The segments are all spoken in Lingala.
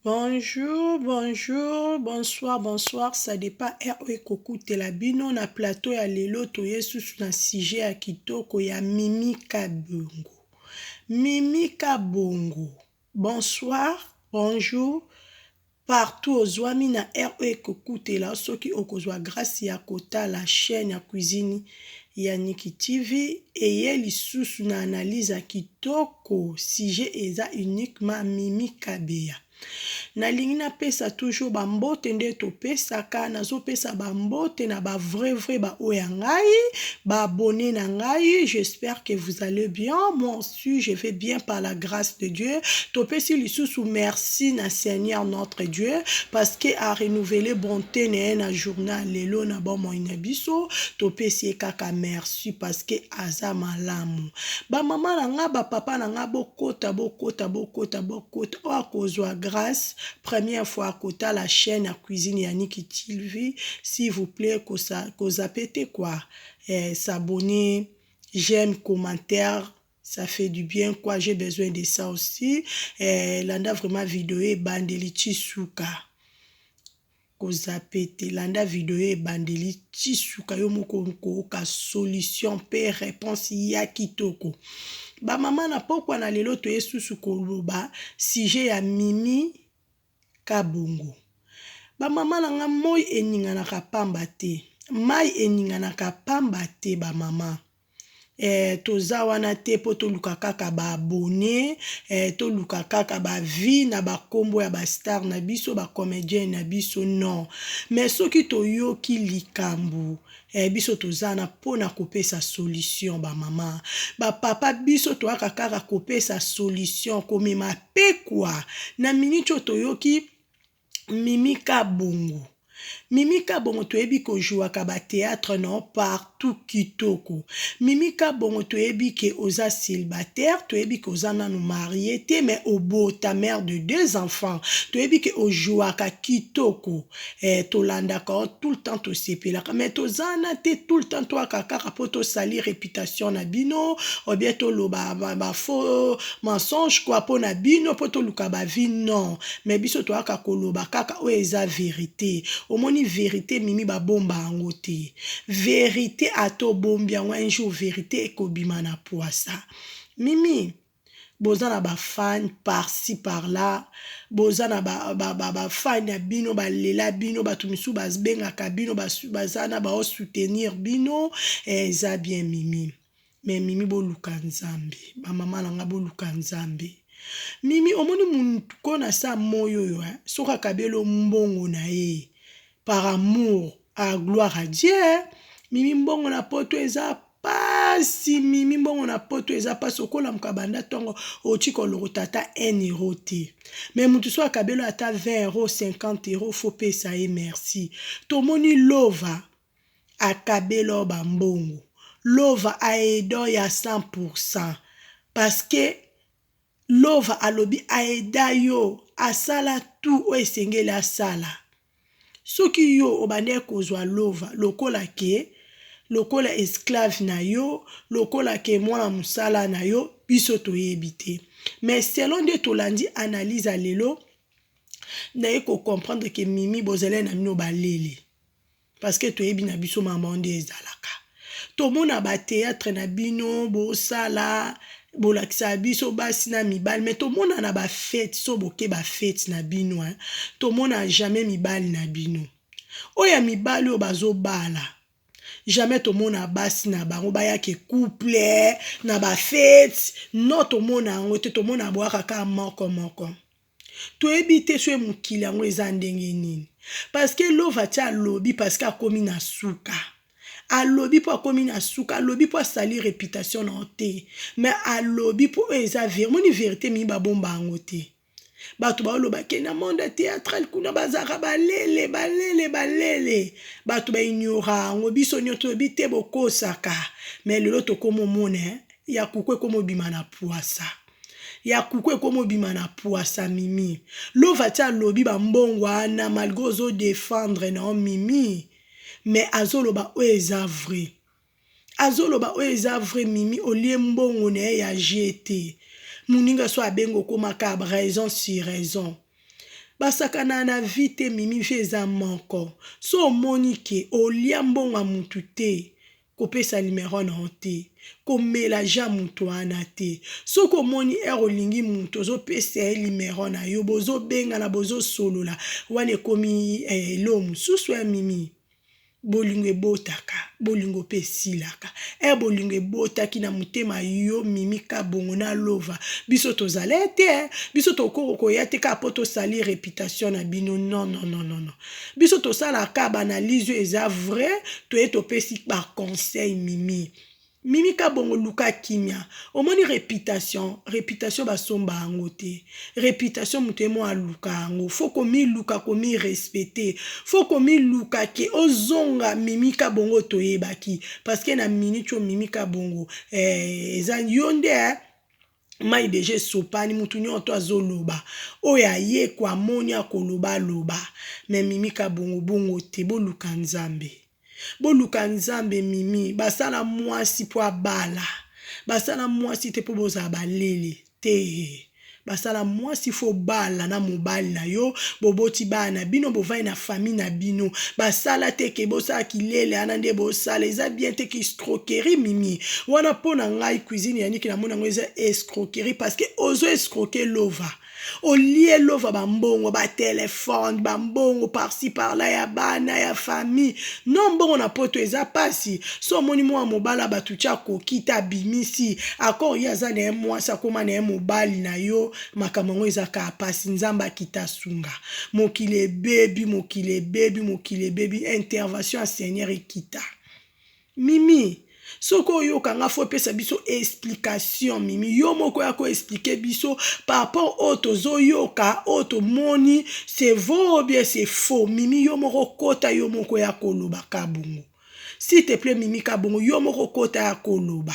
Bonjour bonjour bonsoir bonsoir ça dépend heure oyo ekokutela bino na plateau ya lelo toye susu na sujet ya kitoko ya Mimi Kabongo Mimi Kabongo Bonsoir, bonjour, partout ozuami na heure oyo ekokutela soki okozua grace ya kotala chaine ya cuisine ya Nicky TV eye lisusu na analyse ya kitoko sujet eza uniquement Mimi Kabeya. Nalingi napesa toujours ba mbote nde topesaka nazopesa ba mbote na ba vrai vrai ba oyo ya ngai ba abonne na ngai j'espère que vous allez bien moi Merci, je vais bien par la grâce de Dieu. Topesi lisusu merci na Seigneur notre Dieu parce que a renouveler bonté na ye na journée lelo na bomoi na biso. Topesi ye kaka merci parce que aza malamu. Ba mama na nga, ba papa na nga bokota bokota bokota bokota oyo akozwa grâce première fois akotala chaîne ya cuisine ya Niki TV s'il vous plaît kosa kozape te quoi. Eh, s'abonner j'aime commentaire ça fait du bien quoi j'ai besoin de ça aussi eh, landa vraiment video ebandeli ti suka kozape te landa video ye ebandeli ti suka yo moko okooka solution mpe réponse ya kitoko bamama na pokwa na lelo toye susu koloba sujet ya mimi ka bongo. Ba mama na nga moyi eninganaka pamba te mayi eninganaka pamba te ba mama eh toza wana te po toluka kaka ba abonnes eh toluka kaka ba vues na ba kombo ya ba stars na biso ba comediens na biso non mais soki toyoki likambu Eh biso toza na pona kopesa solution ba maman ba papa biso toyaka kaka kopesa solution komema pekua na minute oyo toyoki mimi kabongo Mimi Kabongo toyebi ko jouaka ba theatre no partout kitoko. Mimi Kabongo toyebi ke oza célibataire, toyebi ke oza nanu marie te mais obota mère de deux enfants. Toyebi ke o jouaka kitoko. eh, tolandaka yo tout le temps tosepelaka mais toza na te tout le temps toyaka kaka mpo tosali reputation na bino ou bien toloba ba, ba faux mensonge kua mpo na bino mpo toluka bavie non mais biso toyaka koloba kaka oyo eza verite omoni verite mimi babomba yango te verite ata obombi yango un jour verite ekobima na pwasa mimi boza na ba fan par ci par là boza na ba fan ya bino ba lela bino batu misusu ba bengaka bino baza na bao soutenir bino eh eza bien mimi mais mimi boluka nzambe ba mama na nga boluka nzambe mimi omoni mutu ko na sa moyi oyo eh soki akabi yo mbongo na ye Par amour ahh gloire à Dieu eh Mimi mbongo na poto eza pasi Mimi mbongo na poto eza pasi okolamuka banda tongo otika olokota ata un euro te mais mutu soki akabeli yo ata 20 euro 50 euro faut pesa ye merci tomoni lova akabela yo ba mbongo lova aide yo ya 100 pourcent parce que Lova alobi aida yo asala tout oyo esengeli asala soki yo obandaki kozua lova lokola ke lokola esclave na yo lokola ke mwana musala na yo biso toyebi te mais selon nde tolandi analyse ya lelo naye ko comprendre ke mimi bozalani na bino ba lele. Parce que toyebi na biso maman nde ezalaka. Tomona ba theatre na bino bosala bolakisa biso basi na mibali mais tomona na ba fete so boke ba fete na bino hein. Tomona jamais mibali na bino. Oyo ya mibali oyo bazobala jamais tomona basi na bango bayake couple na ba fete non tomona yango te tomona boyaka kaka moko moko. Toyebi te soki mokili yango eza ndenge nini parce que Lovati alobi parce que akomi na suka. Alobi mpo akomi na suka, alobi mpo asali reputation na yo te. Mais alobi mpo oyo eza vérité. Omoni vérité mingi babomba yango te. Bato baoloba ke na monde théâtral kuna bazalaka balele balele balele. Bato ba ignora yango biso nyoto toyebi te bokosaka. Mais lelo tokomomona eh, ya kuku ekomobima na puasa. Ya coucou ekomi obima na puasa mimi lova ti alobi ba mbongo wana malgre ozo defendre nao mimi mais azoloba oyo eza vrai azoloba oyo eza vrai mimi olie mbongo naye ya je te muninga so abengi okoma ka raison sur raison basakana na vie te mimi vie eza moko so omoni ke olia mbongo ya mutu te Kopesa numero na yo te. Komela ja mutu wana te. Soki omoni heure olingi mutu ozo pesa ye numero na yo bozo bengana bozo solola wana ekomi eh eloko mususu eh mimi. Bolingo ebotaka bolingo pe esilaka eh bolingo ebotaki na motema yo mimi kabongo na lova biso tozalete eh biso tokoko koya te kaka po to salir reputation na bino non non non non. biso tosala ka ba analyse oyo eza vrai toye topesi ba conseil mimi mimi kabongo luka kimia omoni reputation reputation basomba yango te reputation moto ye moko aluka yango fo komiluka komirespecte fo komiluka ke ozonga mimi kabongo oyo toyebaki parceke na minute oyo mimi kabongo eh, eza yo nde eh, Mayi dejà esopani mutu nioto azo loba oyo aye ko amoni ako loba aloba mais mimi kabongo bongo te boluka nzambe boluka nzambe mimi basala muasi po abala basala muasi te po bozala ba lele tee basala muasi fo obala na mobali na yo boboti bana na bino bovandi na famille na bino basala te ke bosala ki lele ana nde bosala eza bien te ki escroquerie mimi wana mpo na ngai cuisine ya niki namoni yango eza escroquerie parce que ozo escroque lova olie lova bambongo batelefone bambongo parci parla ya bana ya famille no mbongo na poto eza mpasi so omoni mwa mobala bato tya koki te abimisi akor ye aza na ye mwasi akoma na ye mobali na yo makambo yango eza kaa mpasi nzambe akita sunga mokili ebebi mokili ebebi mokili ebebi intervention ya seigneur ekita Mimi soki oyoka nga faut pesa biso explication mimi yo moko ya ko expliquer biso par rapport oyo tozo yoka oyo tomoni c'est vrai ou bien c'est faux mimi yo moko kota yo moko ya koloba ka bongo s'il te plait mimi ka bongo yo moko kota ya koloba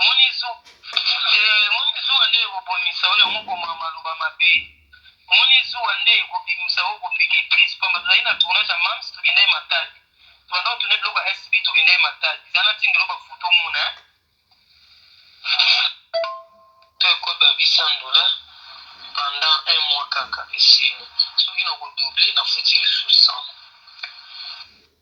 Omoni zuwa? Ee, omoni zuwa nde ekobomisa yo, yango koma maloba mabe. Omoni zuwa nde ekobimisa yo, okopike crise, pamba tozali na tournage ya Mam's, tokenda ye Matadi, tobanda kotourne biloko ya SB, tokenda ye Matadi, zala na tindelo ba photo omona hein. To ekomi ba 800 dollars pendant un mois kaka, esili, soki nako doubler nafuti lisusu 100.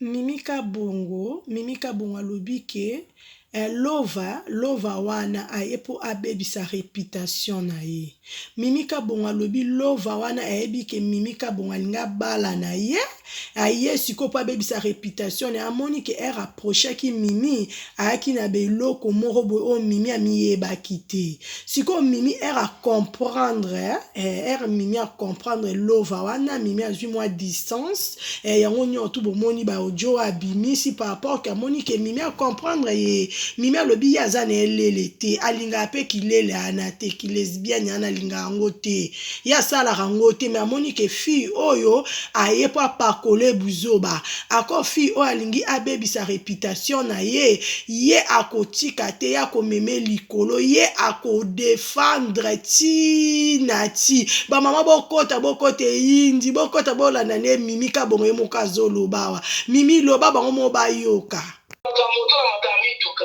Mimi kabongo mimi kabongo alobi que lova lova wana aye po abebisa reputation na ye mimi kabongo alobi lova wana ayebi que mimi kabongo alingi abala na ye. aye sikoyo mpo abebisa reputation na amoni ke ere approchaki mimi ayaki na beloko moko boye oyo mimi amiyebaki te sikoyo mimi ere acomprendre ere mimi acomprendre lova wana mimi azwi mwa distance eh, yango nyonso tu bomoni baodio oyo abimisi par rapport ke amoni ke mimi acomprendre ye mimi alobi ye aza na elele te alingaka mpe kilele ana te kilesbiani ana alingaka yango te ye asalaka ngo te mais amoni ke fille oyo aye po apakole buzoba accord fille oyo alingi abebisa reputation naye ye akotika te ye akomeme likolo ye ako defendre ti na ti ba maman bokota bokota eyindi bokota bolanda nde mimi kabongo ye moko azoloba awa mimi loba bango moko bayoka. Makambo to na makambo ya mituka.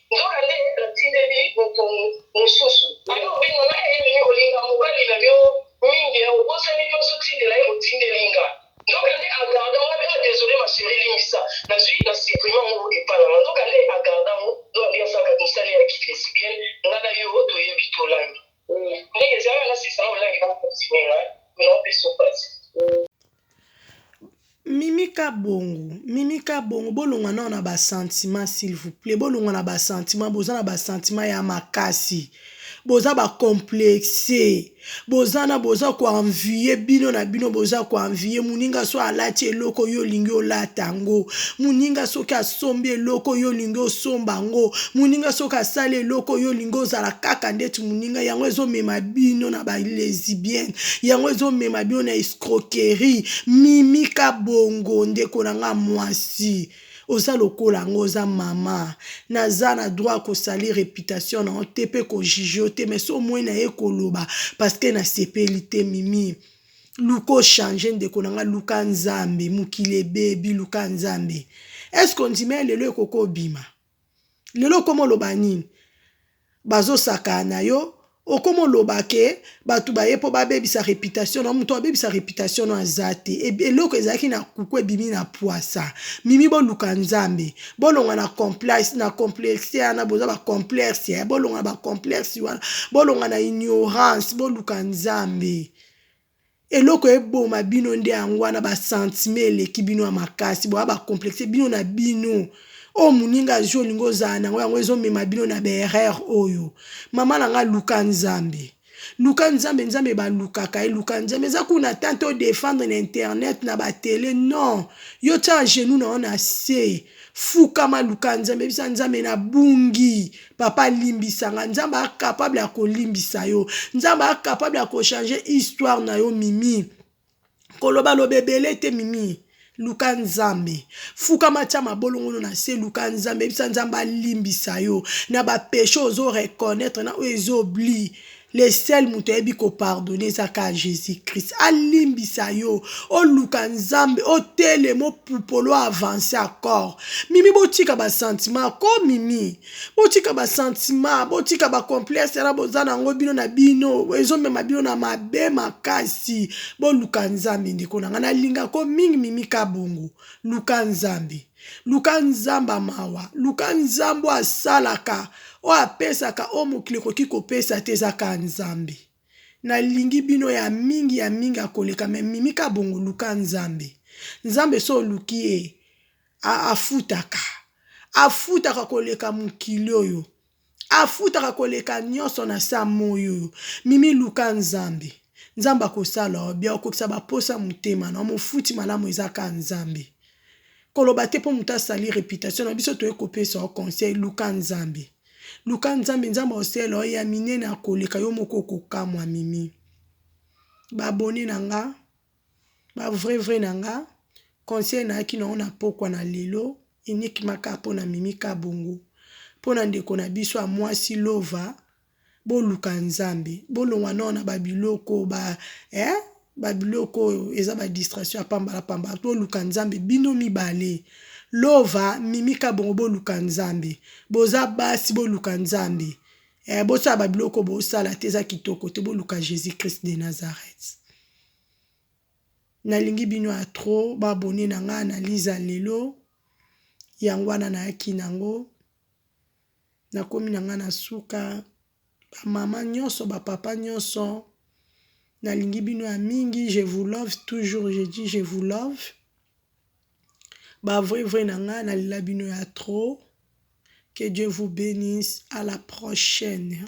Nzokande natindeli moto mosusu. Ata obenga nga enemi, olinga mobali na yo mingi eh, obosani pe ozotindela ye otindeli nga. Nzokande a garda nga pe ah desole ma cherie limbisa, nazui na supprima ngo epa na nga. Nzokande a garda ngo do aliansa kati mosali ya ki lesbienne, nga na yo toyebi tolangi. Ndenge ezalaka nasepisa na olangi, bo continuer nga eh, mais na opesa yo pasi eh. Mimi kabongo mimi kabongo bolongua nao na ba sentiment s'il vous plait bolongua na ba sentiment boza na ba sentiment ya makasi boza ba complexe boza na boza ko envie bino na bino boza ko envie moninga soki alati eloko yo olingi olata yango moninga soki asombi eloko yo olingi osomba yango moninga soki asali eloko yo olingi ozala kaka ndeti moninga yango ezomema bino na ba lesibiene yango ezomema bino na. escroquerie mimi kabongo ndeko na nga muasi oza lokola yango oza mama naza na droit ya ko salir reputation na yo te pe ko juger yo te mais soki omoni na ye koloba parce que na sepeli te mimi luka o changer ndeko na nga luka nzambe mokili ebebi luka nzambe est ce que ondimi ya lelo ekoki obima lelo okomo loba nini bazosaka na yo okomo loba ke bato baye mpo babebisa reputation na moto abebisa reputation no aza te eloko ezalaki na kuku ebimi na pwasa mimi boluka nzambe bolonga na complexe na complexe yana boza ba complexe ya bolonga na ba complexe wana bolonga na ignorance boluka nzambe Eloko eboma bino nde yango wana ba sentiment eleki bino ya makasi boza ba complexe bino na bino oyo muninga azui olingi ozala nango yango ezo mema bino na ba erreur oyo maman na nga luka nzambe luka nzambe nzambe ba lukaka ye luka nzambe eza kuna tante o defendre na internet na ba tele non yo tia genou na yo na se Fukama luka nzambe bisa nzambe na bungi papa limbisa nga nzambe a capable ya kolimbisa yo nzambe a capable ya kochange histoire na yo mimi koloba loba ebele te mimi luka nzambe fukama tya mabolongono na se luka nzambe yebisa nzambe alimbisa yo na bapeshe ozo reconnaitre na oyo ezobli Le seul mutu ayebi ko pardonner eza kaka Jesus Christ alimbisa yo oluka nzambe otelema opupole o avancer accord mimi botika ba sentiment ko mimi botika ba sentiment botika ba complexe wana boza na ngo bino na bino ezo mema bino na mabe makasi boluka nzambe ndeko na nga na lingaka yo mingi mimi kabongo luka nzambe. Luka Nzambe ya mawa. Luka Nzambe oyo asalaka, oyo apesaka oyo mokili ekoki kopesa te. Eza kaka Nzambe. Nalingi bino ya mingi, ya mingi ya koleka. Mais Mimi Kabongo, luka Nzambe. Nzambe soki oluki ye, afutaka. Afutaka koleka mokili oyo. afutaka koleka nionso na sa moyi oyo mimi luka nzambe nzambe akosala yo bien okokisa ba posa motema na yo mofuti malamu eza kaka nzambe koloba te po mutu asali reputation na biso toye kopesa yo conseil luka nzambe luka nzambe nzambe akosela yo ya minene akoleka yo moko okokamua mimi ba abonne na nga. Ba vrai vrai na nga conseil nayaki na yo na pokwa na lelo uniquement kaka po na Mimi Kabongo po na ndeko na biso ya muasi Lova boluka Nzambe bolongwa nao na ba biloko ba eh ba biloko oyo eza ba distraction ya pambala pambala boluka Nzambe bino mibale Lova Mimi Kabongo boluka Nzambe boza basi boluka Nzambe eh bosala ba biloko bosala te eza kitoko te boluka Jesus Christ de Nazareth. Nalingi bino ya trop ba abonne na nga analyse ya lelo yango wana nayaki na yango nakomi na nga na suka ba mama nionso ba papa nionso nalingi bino ya mingi je vous love toujours je dis je vous love ba vrai vrai na nga na lela bino ya trop que Dieu vous benisse à la prochaine.